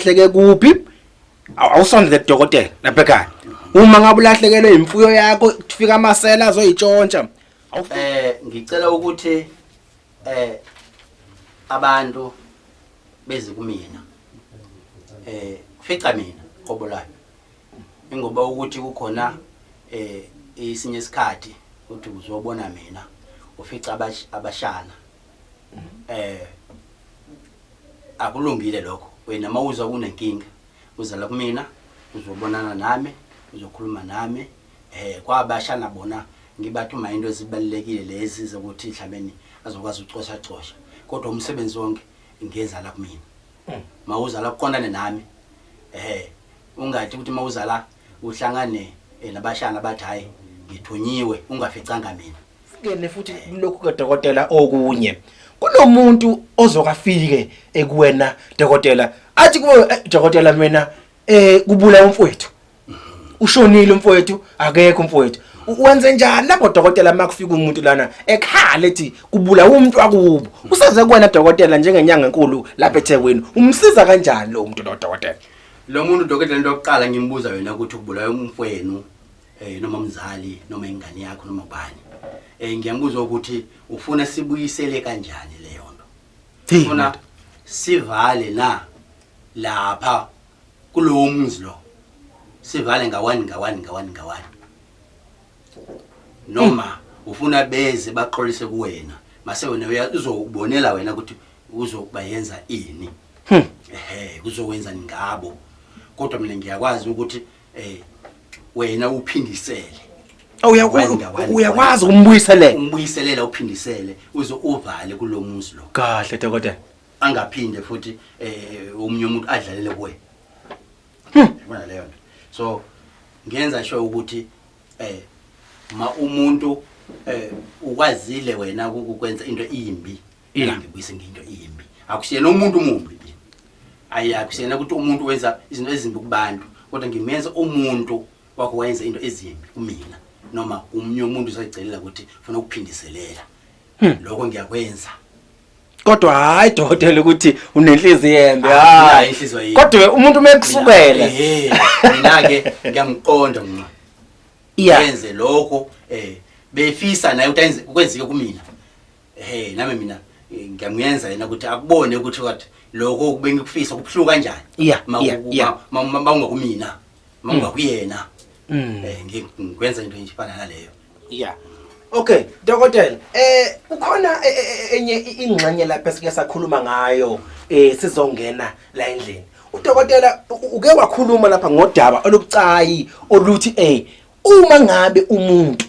ulahleke kuphi awusondele kudokotela lapha ekhaya uma ngabe ulahlekelwe imfuyo yakho kufika amasela azoyitshontsha eh ngicela ukuthi eh abantu bezi kumina eh fica mina qobo lami ingoba ukuthi kukhona eh isinye isikhathi uthi uzobona mina ufica abashana eh akulungile lokho wena mawuzwa kunenkinga uzala kumina uzobonana nami uzokhuluma nami eh kwabasha nabona ngibathuma into ezibalekile lezi zokuthi mhlabeni azokwazi ucosha cosha kodwa umsebenzi wonke ngenza la kumina hmm. mawuzala kuqondane nami eh ungathi ukuthi mawuzala uhlangane eh, nabashana bathi hayi ngithunyiwe ungaficanga mina Ngene futhi lokhu kadokotela okunye. Kunomuntu ozokafike ekuwena dokotela. Athi kuwe eh, dokotela mina eh kubula umfowethu. Ushonile umfowethu, akekho umfowethu. U- Wenze njani lapho dokotela makufika umuntu lana ekhala ethi kubula umuntu wakubo. Usaze kuwena dokotela njengenyanga enkulu lapha eThekwini. Umsiza kanjani lo muntu lo dokotela? Lo muntu dokotela into yokuqala ngimbuza yona ukuthi ubulawe umfwenu eh noma umzali noma ingane yakho noma ubani eh ngiyakubuza ukuthi ufuna sibuyisele kanjani leyo nto Hey, ufuna madoda. sivale na lapha kulowo mzi lo sivale ngawani ngawani ngawani ngawani noma ufuna beze baxolise kuwena mase wena uya- uzobonela wena ukuthi uzokuba yenza ini ehe kuzowenza ngabo kodwa mina ngiyakwazi ukuthi Eh wena uphindisele. Oh, uyakwazi ukumbuyiselela. Umbuyiselela uphindisele uze uvale kulomuzi lo. Kahle dokotela. Angaphinde futhi eh umunye umuntu adlalele kuwe. Hmm. Yabona leyo nto. So ngenza sho ukuthi eh ma umuntu eh ukwazile wena ukukwenza into imbi Ela ngibuyise ngento imbi. Akusiyena umuntu omumbi mina. Ayi akusiyena ukuthi umuntu wenza izinto ezimbi kubantu, kodwa ngimenza umuntu wakho wayenza into ezimbi kumina noma umnye umuntu usayicelela ukuthi ufuna ukuphindiselela. Hmm. Lokho ngiyakwenza. Kodwa hayi dokotela ukuthi unenhliziyo embi. Hayi inhliziyo yini? Kodwa umuntu mekusukela. Eh, mina ke ngiyamqonda mina. Yenze lokho eh befisa naye ukuthi kwenzeke kumina. Hey nami mina eh, ngiyamuyenza yena ukuthi akubone ukuthi what lokho kubengikufisa kubuhluka kanjani. Yeah, Ma- yeah, ku- yeah. ma- ma- ma ungakumina. Ma ungakuyena. Mm. Eh ngi- ngikwenza into nje fana naleyo. Yeah. Okay, dokotela, eh kukhona e- e- e- enye i- ingxenye lapha esike sakhuluma ngayo eh sizongena la endlini. Udokotela u- uke wakhuluma lapha ngodaba olubucayi oluthi eh uma ngabe umuntu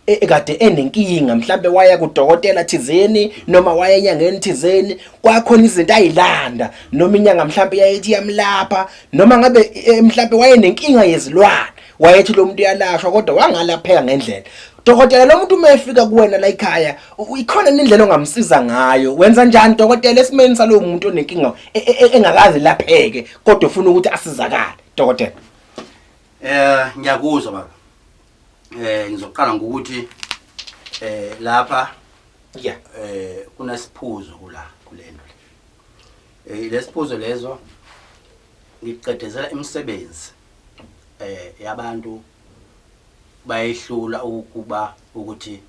e- ekade enenkinga mhlambe waya kudokotela thizeni noma waya enyangeni thizeni kwakhona izinto ayilanda noma inyanga mhlambe yayithi yamlapha noma ngabe eh, mhlambe wayenenkinga yezilwane wayethi lo muntu uyalashwa kodwa wangalapheka ngendlela dokotela lo muntu uma efika kuwena la ekhaya u- ikhona indlela ongamsiza ngayo wenza njani dokotela esimeni salowo muntu onenkinga e- e- e- engakaze lapheke kodwa ufuna ukuthi asizakale dokotela Eh ngiyakuzwa baba. Eh ngizoqala ngokuthi eh lapha yeah eh kunesiphuzo kula kulento le. Eh lesiphuzo lezo ngiqedezela imisebenzi eh yabantu bayehlula ukuba ukuthi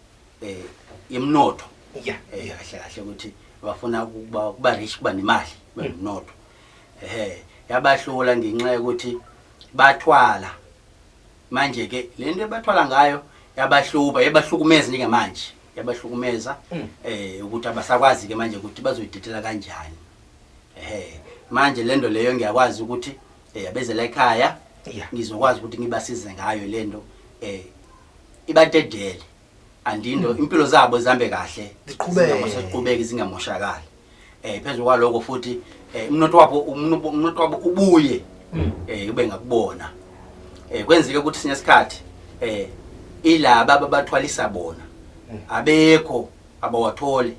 eh imnotho yeah eh kahle kahle ukuthi bafuna ukuba kuba rich kuba nemali banomnotho mm. ehe yabahlula ngenxa yokuthi bathwala manje ke lento ebathwala ngayo yabahluba yabahlukumeza nje manje yabahlukumeza mm. eh ukuthi abasakwazi ke manje ukuthi bazoyidedela kanjani eh manje lento leyo ngiyakwazi ukuthi eh abezela ekhaya ngizokwazi ukuthi ngibasize ngayo lento eh ibadedele andindo mm. impilo zabo zihambe kahle ziqhubeke zingamoshakali eh phezulu kwaloko futhi eh umnotho wabo umnotho wabo ubuye mm. eh ube ngakubona eh kwenzeke ukuthi sinye isikhathi eh ilaba ababathwalisa bona mm. abekho abawatholi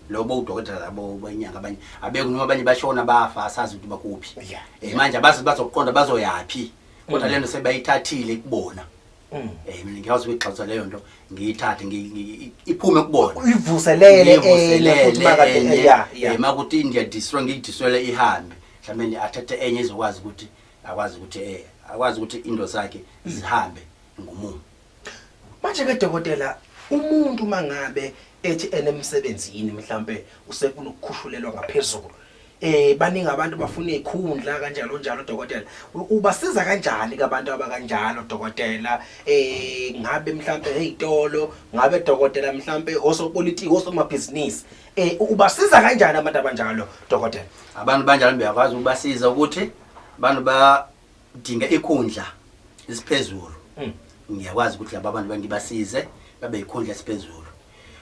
lobo udokotela labo banyanga abanye abekho noma abanye bashona bafa asazi ukuthi bakuphi eh manje abazi bazoqonda bazoyaphi kodwa lento sebayithathile kubona Mm. Eh mina ngiyakwazi ukuyigxotha leyo nto ngiyithathe iphume kubona. Uyivuselele eh futhi makade eh, ya ya. Eh, Makuthi India destroy ngiyidiswele ihambe. Mhlawumbe athathe enye izokwazi ukuthi akwazi ukuthi eh akwazi ukuthi into zakhe mm. zihambe ngomumo. Manje ke dokotela umuntu mangabe ethi enemsebenzini mhlambe usefuna ukukhushulelwa ngaphezulu eh baningi abantu bafuna izikhundla kanjalo njalo dokotela ubasiza kanjani kabantu abakanjalo dokotela eh ngabe mhlambe ezitolo ngabe dokotela mhlambe osopolitiki osomabhizinisi eh ubasiza kanjani abantu abanjalo dokotela abantu banjalo beyakwazi ukubasiza ukuthi abantu ba Dinga ikhundla isiphezulu. Mm. Ngiyakwazi ukuthi laba bantu bangibasize babe ikhundla esiphezulu.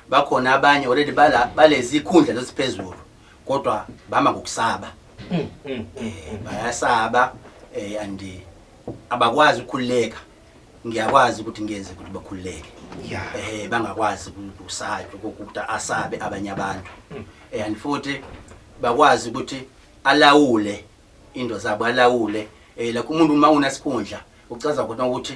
Bakhona abanye already bala balezi ikhundla lesiphezulu kodwa bama ngokusaba. Mm. Mm. Eh bayasaba eh and abakwazi ukukhuleka. Ngiyakwazi ukuthi ngenze ukuthi bakhuleke. Yeah. Eh bangakwazi ukusaya ukuthi asabe abanye abantu. Mm. Eh and futhi bakwazi ukuthi alawule Into zabo alawule eh like umuntu uma unesikhundla ucaza khona ukuthi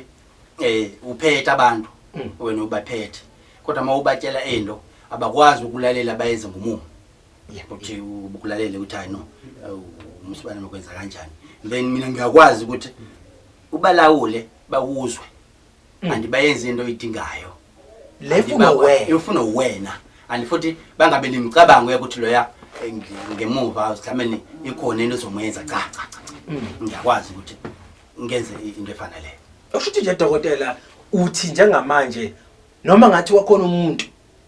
eh uphethe abantu Mm. wena ubaphethe kodwa uma ubatshela into abakwazi ukulalela bayenze ngomumo Yeah. ukuthi ukulalele ukuthi hayi no umsibane nokwenza kanjani then mina ngiyakwazi ukuthi ubalawule bakuzwe Mm. and bayenze into oyidingayo lefuna wena ifuna wena and futhi bangabe nimicabango ukuthi loya eh, ngemuva mhlawumbe ikhona into ezomyenza cha cha cha mm. ngiyakwazi ukuthi ngenze into efaneleyo usho ukuthi nje dokotela uthi njengamanje noma ngathi wakhona umuntu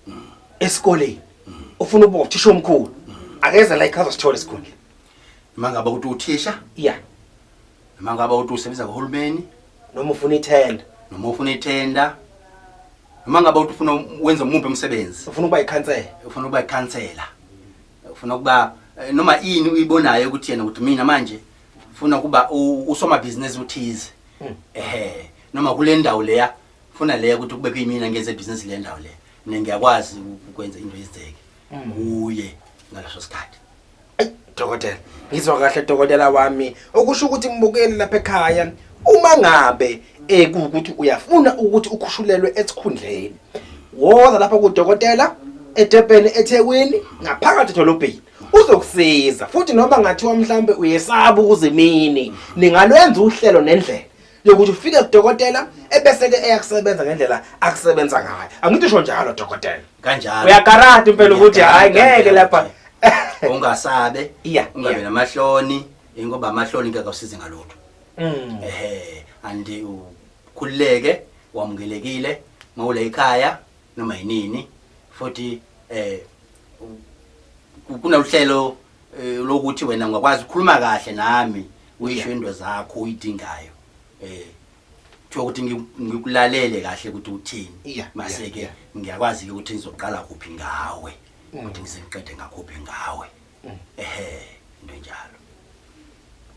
mm. esikoleni mm. ufuna ukuba uthisha omkhulu akeza la ichaza sithole esikhundleni mangabe ukuthi uthisha yeah noma ngabe uthi usebenza kuhulumeni noma ufuna ithenda noma ufuna ithenda noma ngabe uthi ufuna wenza umuphi umsebenzi ufuna ukuba ikhansela ufuna ukuba ikhansela ufuna ukuba eh, noma ini uyibonayo ukuthi yena ukuthi mina manje ufuna ukuba u- usomabhizinisi uthize Hmm. ehe noma kule ndawo leya funa leya ukuthi kube kuyimina ngenze ibhizinisi le ndawo leya mina ngiyakwazi ukwenza into yenzeke Hmm. kuye ngaleso sikhathi Ayi dokotela, ngizwa kahle dokotela wami. Okusho ukuthi mbukeli lapha ekhaya uma ngabe ekuwukuthi uyafuna ukuthi ukhushulelwe esikhundleni. Woza lapha kudokotela eDurban eThekwini ngaphakathi edolobheni. Uzokusiza futhi noma ngathiwa mhlambe uyesaba ukuzimini, ningalwenza uhlelo nendlela. yokuthi ufike kudokotela ebese-ke eyakusebenza ngendlela akusebenza ngayo angithi usho njalo dokotela kanjalo uyakarata impela ukuthi hhayi ngeke lapha ungasabe iya ungabe namahloni ingoba amahloni ngeke akusize ngalutho mm. ehe andi ukhululeke wamukelekile mawule ikhaya noma yinini futhi eh kunaluhlelo eh lokuthi wena ngakwazi ukukhuluma kahle nami uyisho into zakho uyidingayo eh kuthiwa ukuthi ngi- ngikulalele kahle ukuthi uthini Yeah, mase ke yeah, ngiyakwazi ke ukuthi ngizoqala kuphi ngawe ukuthi ngisengiqede ngakhuphi ngawe ehe into enjalo